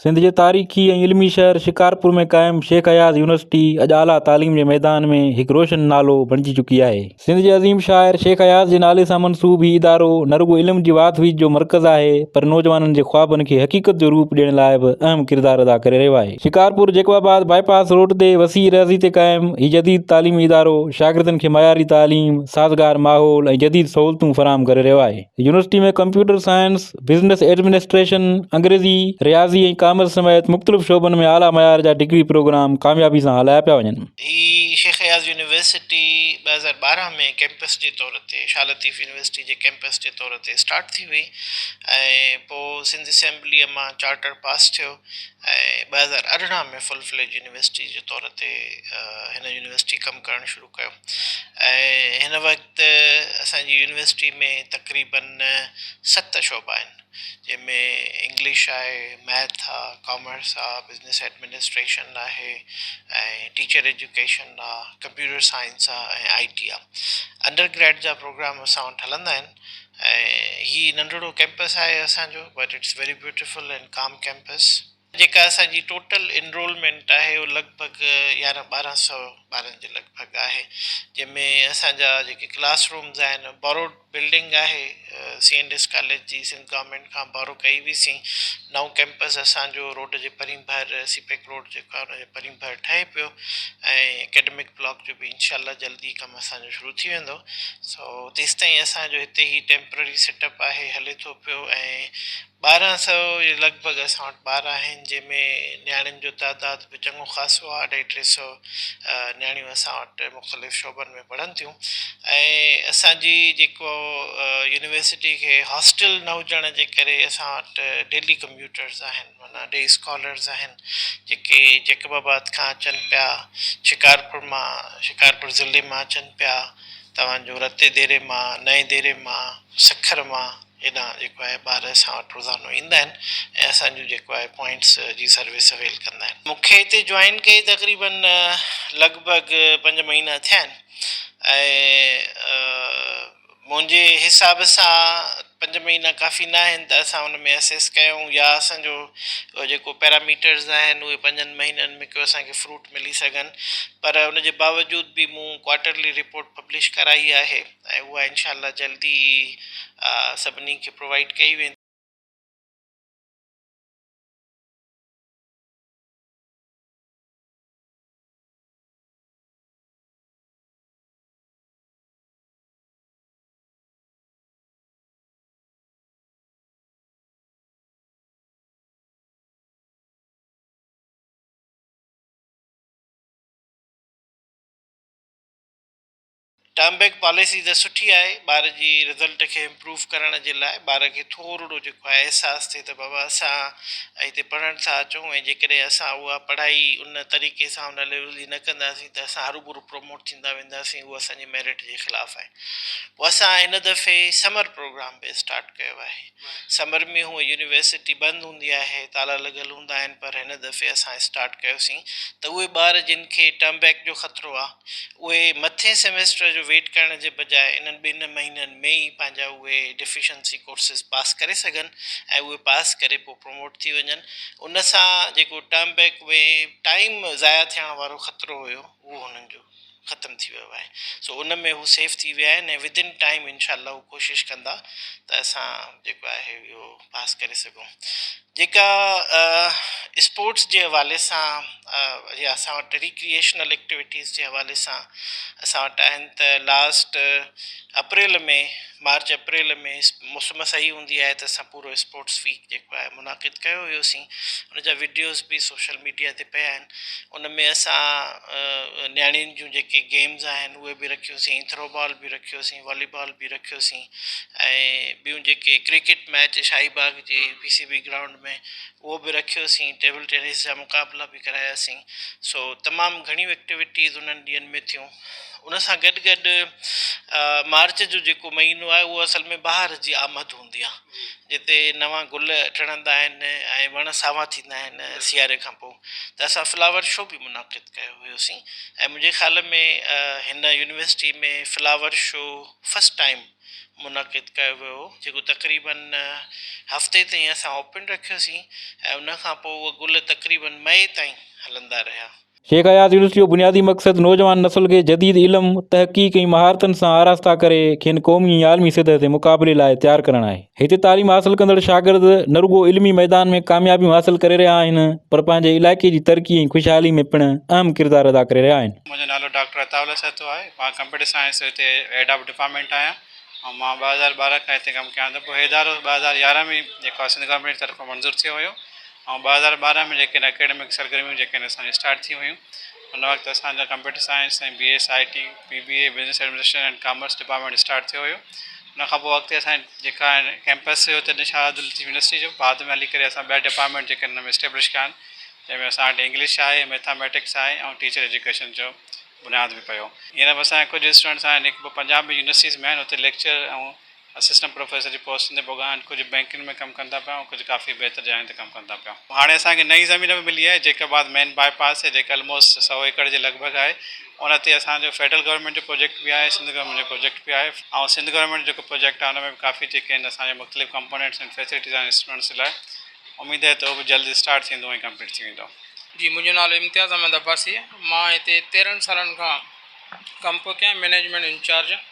سنڌ جي تاريخي ۽ علمي شهر شڪارپور ۾ قائم شيخ اياز يونيورسٽي اڄ اعليٰ تعليم جي ميدان ۾ هڪ روشن نالو بڻجي چڪي آهي. سنڌ جي عظيم شاعر شيخ اياز جي نالي سان منسوب هي ادارو نه رڳو علم جي واڌ ويجھ جو مرڪز آهي پر نوجوانن جي خوابن کي حقيقت جو روپ ڏيڻ لاء به اهم ڪردار ادا ڪري رهيو آهي. شڪارپور جيڪب آباد باء پاس روڊ تي وسيع رهسي تي قائم هي جديد تعليمي ادارو شاگردن کي معياري تعليم، سازگار ماحول ۽ جديد سهولتون فراهم ڪري رهيو آهي. University ۾ computer science, business administration, انگريزي، رياضي ۽ ڪامرس سميت مختلف شعبن ۾ اعليٰ معيار جا ڊگري پروگرام ڪاميابي سان هلايا پيا وڃن. هي شيخ اياز يونيورسٽي ٻه هزار ٻارهن ۾ ڪيمپس جي طور تي شاهه لطيف يونيورسٽي جي ڪيمپس جي طور تي اسٽارٽ ٿي هئي ۽ پوء سنڌ اسيمبليء مان چارٽر پاس ٿيو. ٻه هزار ارڙهن ۾ فل فليج يونيورسٽي جي طور تي هن يونيورسٽي ڪم ڪرڻ شروع ڪيو ۽ هن وقت اسان جي يونيورسٽي ۾ تقريباً ست شعبا آهن جنهن ۾ انگلش آهي ميٿ آ ڪامرس آ بزنس ايڊمنسٽريشن آهي ۽ ٽيچر ايجوڪيشن آ ڪمپيوٽر سائنس آ ۽ آئي ٽي آ انڊر گريڊ جا پروگرام اسان وٽ هلندا آهن ۽ هي ننڍڙو ڪيمپس آهي اسان جو but it's very beautiful and calm campus جيڪا اسان جي ٽوٽل انرولمينٽ آهي اهو لڳ ڀڳ يارهن ٻارهن سئو ٻارن جي لڳ ڀڳ آهي جنهن ۾ اسان جا جيڪي ڪلاس رومز آهن بوروڊ بلڊنگ آهي سي اينڊ ايس ڪاليج جي سنڌ گورمينٽ کان بورو ڪئي هئي سين نئون ڪيمپس اسان جو روڊ جي پرين ڀر سي پيڪ روڊ جيڪو آهي ان جي پرين ڀر ٺهي پيو ۽ اڪيڊمڪ بلاڪ جو به انشاء الله جلدي ڪم اسان جو شروع ٿي ويندو سو تيستائين اسان جو هتي هي ٽيمپرري سيٽ اپ آهي هلي ٿو پيو ۽ ٻارهن سئو جي لڳ ڀڳ اسان وٽ ٻار آهن جنهن ۾ نياڻين جو تعداد به چڱو خاصو آهي اڍائي ٽي سئو نياڻيون اسان وٽ مختلف شعبن ۾ پڙهن ٿيون ۽ اسان جي جيڪو يونيورسٽي کي هاسٽل نه هجڻ جي ڪري اسان وٽ ڊيلي ڪميوٽرز آهن معنيٰ ڊي اسڪالرز آهن جيڪي جيڪب آباد کان اچن پيا شڪارپور مان شڪارپور ضلعي مان اچن پيا توهان جو رتي ديري مان، نئين ديري مان، سکر مان هيڏانهن جيڪو آهي ٻار اسان وٽ روزانو ايندا آهن ۽ اسان جون جيڪو آهي پوائنٽس جي سروس اويل ڪندا آهن. مون کي هتي جوائن ڪئي تقريباً لڳ ڀڳ پنج مهينا ٿيا آهن ۽ منهنجي حساب سان پنج مهينا ڪافي نه آهن ته اسان ان ۾ اسيس ڪيون يا اسان جو جيڪو پيراميٽرز آهن اهي پنجن مهينن ۾ ڪو اسان کي فروٽ ملي سگهن پر ان جي باوجود به مون ڪوارٽرلي رپورٽ پبلش ڪرائي آهي ۽ اها انشاء الله جلدي ئي سڀني کي پرووائيڊ ڪئي ويندي. ٽرم بيڪ پاليسي ته سٺي آهي ٻار جي رزلٽ کي امپروف ڪرڻ جي لاء ٻار کي ٿورڙو جيڪو آهي احساس ٿئي ته بابا اسان هتي پڙهڻ ٿا اچون ۽ جيڪڏهن اسان اها پڙهائي ان طريقي سان ان ليول جي نه ڪنداسين ته اسان هروڀرو پروموٽ ٿيندا وينداسين اهو اسان جي ميرٽ جي خلاف آهي پوء اسان هن دفعي سمر پروگرام به اسٽارٽ ڪيو آهي سمر ۾ هونء يونيورسٽي بند هوندي آهي، تالا لڳل هوندا آهن پر هن دفعي اسان اسٽارٽ ڪيوسين ته اهي ٻار جن کي ٽرم بيڪ جو خطرو آ اهي مٿين سيمسٽر جو ويٽ ڪرڻ جي بجاء انهن ٻن مهينن ۾ ئي پنهنجا اهي ڊفيشنسي ڪورسز پاس ڪري سگهن ۽ اهي پاس ڪري پوء پروموٽ ٿي وڃن ان سان جيڪو ٽرم بيڪ ۾ ٽائيم ضايع ٿيڻ وارو خطرو هيو اهو هنن جو ختم ٿي ويو آهي سو ان ۾ هو سيف ٿي ويا آهن ۽ ودن ٽائيم انشاء الله هو ڪوشش ڪندا ته اسان جيڪو آهي اهو پاس ڪري سگهون جيڪا اسپورٽس جي حوالي سان يا اسان وٽ ريڪريشنل ايڪٽيويٽيز جي حوالي سان اسان وٽ آهن ته لاسٽ اپريل ۾ مارچ اپريل ۾ موسم صحيح هوندي آهي ته اسان پورو اسپورٽس ويڪ جيڪو آهي منعقد ڪيو هيوسين ان جا وڊيوز به سوشل ميڊيا تي پيا آهن ان ۾ اسان نياڻين جون جيڪي گيمز آهن اهي به رکيوسين ٿرو بال به رکيوسين والي بال به رکيوسين ۽ ٻيون جيڪي ڪرڪيٽ ميچ شاهي باغ جي پي سي بي گرائونڊ ۾ اهو به رکيوسين ٽيبل ٽينس جا مقابلا به ڪراياسين سو تمام گهڻيون ايڪٽيوٽيز انهن ڏينهن ۾ ٿيون ان سان گڏ گڏ مارچ جو جيڪو مهينو آهي اهو اصل ۾ ٻاهر جي آمد هوندي آهي هوندي آهي، جتي نوان گل ٽڙندا آهن ۽ وڻ ساوا ٿيندا آهن سياري کان پوء ته اسان فلاور شو به منعقد ڪيو هيوسين ۽ منهنجي خيال ۾ هن university ۾ flower show first time منعقد ڪيو ويو هو جيڪو تقريباً هفتي تائين اسان اوپن رکيوسين ۽ ان کان پوء اهي گل تقريباً مئي تائين هلندا رهيا. شيخ اياز يونيورسٽي جو بنيادي مقصد نوجوان نسل کي جديد علم، تحقيق ۽ مهارتن سان آراسته ڪري کين قومي ۽ عالمي سطح تي مقابلي لاء تيار ڪرڻ آهي. هتي تعليم حاصل ڪندڙ شاگرد نه رڳو علمي ميدان ۾ ڪاميابيون حاصل ڪري رهيا آهن پر پنهنجي علائقي جي ترقي ۽ خوشحالي ۾ پڻ اهم ڪردار ادا ڪري رهيا آهن. منهنجو نالو ڊاڪٽر عطاء الله سهتو آهي. مان ڪمپيوٽر سائنس جو هتي هيڊ آف ڊپارٽمينٽ آهيان ۽ مان ٻه هزار ٻارهن کان هتي ڪم ڪيان ٿو. پوء هي ادارو ٻه هزار يارهن ۾ جيڪو آهي سنڌ گورنمينٽ جي طرفان منظور ٿيو هيو ۽ ٻه هزار ٻارهن ۾ جيڪي اڪيڊمڪ سرگرميون جيڪي اسان جي اسٽارٽ ٿيون هيون ان وقت اسان جا computer science ۽ B S I T B B A business administration and commerce department start ٿيو هيو ان کان پوء اڳتي اسان جي جيڪا ڪيمپس هيو تڏهن شاهه عبد اللطيف يونيورسٽي جو بعد ۾ هلي ڪري اسان ٻيا ڊپارٽمينٽ جيڪي ان ۾ اسٽيبلش ڪيا آهن جنهن ۾ اسان وٽ انگلش آهي ميٿاميٽڪس آهي ۽ ٽيچر ايجوڪيشن جو بنياد به پيو هينئر به اسان جا ڪجهه اسٽوڊنٽس آهن هڪ ٻه پنجاب يونيورسٽيز ۾ آهن اتي ليڪچر ۽ اسسٽنٽ پروفيسر جي پوسٽن تي پوڳا آهن، ڪجهه بئنڪن ۾ ڪم ڪن ٿا پيا ۽ ڪجهه ڪافي بهتر جاين تي ڪم ڪن ٿا پيا. هاڻي اسان کي نئين زمين به ملي آهي جيڪب آباد مين باء پاس تي جيڪا الموسٽ سؤ ايڪڙ جي لڳ ڀڳ آهي ان تي اسان جو فيڊرل گورنمينٽ جو پروجيڪٽ به آهي سنڌ گورنمينٽ جو پروجيڪٽ به آهي ۽ سنڌ گورنمينٽ جيڪو پروجيڪٽ آهي ان ۾ به ڪافي جيڪي آهن اسان جي مختلف ڪمپونيٽس آهن فيسلٽيز آهن اسٽوڊنٽس جي لاء اميد آهي ته اهو به جلد اسٽارٽ ٿيندو ۽ ڪمپليٽ ٿي ويندو. جي منهنجو نالو امتياز احمد عباسي مان هتي تيرهن سالن کان ڪم پيو ڪيان مينيجمينٽ انچارج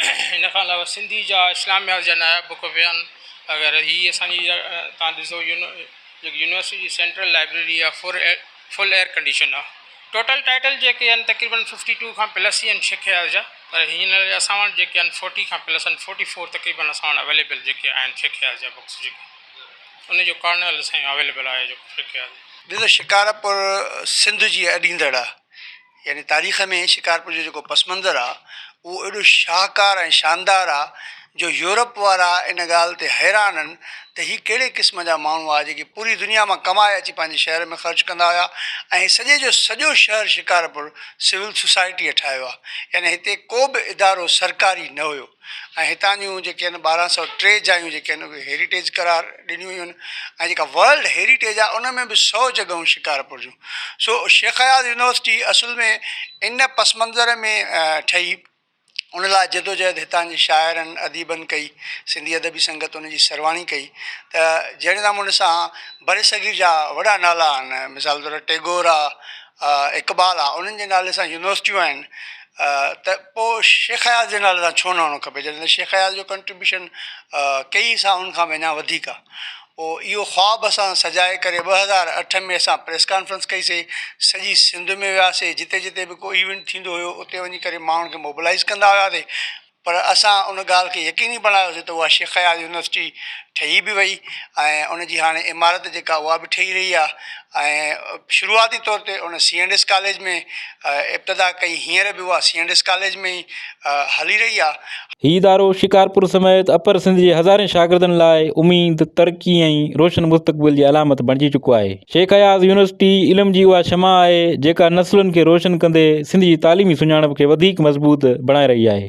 ان کان علاوه سنڌي جا اسلاميات جا ناياب بڪ ويان وغيره هي اسان جي تان ڏسو جيڪي يونيورسٽي جي سينٽرل لائبريري آهي فور فل ايئر ڪنڊيشن آهي ٽوٽل ٽائيٽل جيڪي آهن تقريبن ففٽي ٽو کان پلس ئي آهن سک اياز جا پر هينئر اسان وٽ جيڪي آهن فورٽي کان پلس آهن فورٽي فور تقريبن اسان وٽ اويليبل جيڪي آهن سک اياز جا بڪس جيڪي ان جو ڪارنل سائين اويليبل آهي جو سک اياز ڏسو شڪارپور سنڌ جي اڏيندڙ آهي يعني تاريخ ۾ شڪارپور جو جيڪو پس منظر آ اهو ايڏو شاهڪار ۽ شاندار آ جو يورپ وارا ان ڳالهه تي حيران هن ته هي ڪهڙي قسم جا ماڻهو آ جيڪي پوري دنيا مان ڪمائي اچي پنهنجي شهر ۾ خرچ ڪندا هيا ۽ سڄي جو سڄو شهر شڪارپور سول سوسائٽيء ٺاهيو آ يعني هتي ڪو به ادارو سرڪاري نه هيو. ۽ هتان جون جيڪي آهن ٻارهن سؤ ٽي جايون جيڪي آهن اهي هيريٽيج قرار ڏنيون ويون آهن ۽ جيڪا ورلڊ هيريٽيج آهي ان ۾ به سؤ جڳهون شڪارپور جون سو شيخ اياز يونيورسٽي اصل ۾ ان پس منظر ۾ ٺهي ان لاء جدوجهد هتان جي شاعرن اديبن ڪئي سنڌي ادبي سنگت ان جي سرواڻي ڪئي ته جهڙي نموني سان برصغير جا وڏا نالا آهن مثال طور ٽيگور آهي اقبال آ انهن جي نالي سان يونيورسٽيون آهن ته پو شيخ اياز جي نالي سان ڇو نه هئڻو کپي جڏهن ته شيخ اياز جو ڪنٽريبيوشن ڪيئي سائن کان به اڃا وڌيڪ آ پو اهو خواب اسان سجائي ڪري ٻه هزار اٺ ۾ اسان پريس ڪانفرنس ڪئي سي سڄي سنڌ ۾ وياسي جتي جتي به ڪو ايونٽ ٿيندو هيو اتي وڃي ڪري ماڻهن کي موبلائيز ڪندا هياسي پر اسان ان ڳالهه کي يقيني بڻايوسين ته اها شيخ اياز يونيورسٽي ٺهي به وئي ۽ ان جي هاڻي عمارت جيڪا اها به ٺهي رهي آهي ۽ شروعاتي طور تي ان سي اينڊ ايس ڪاليج ۾ ابتدا ڪئي هينئر به اها سي اينڊ ايس ڪاليج ۾ ئي هلي رهي آهي. هي ادارو شڪارپور سميت اپر سنڌ جي هزارين شاگردن لاء اميد، ترقي ۽ روشن مستقبل جي علامت بڻجي چڪو آهي. شيخ اياز يونيورسٽي علم جي اها شمع آهي جيڪا نسلن کي روشن ڪندي سنڌ جي تعليمي سڃاڻپ کي وڌيڪ مضبوط بڻائي رهي آهي.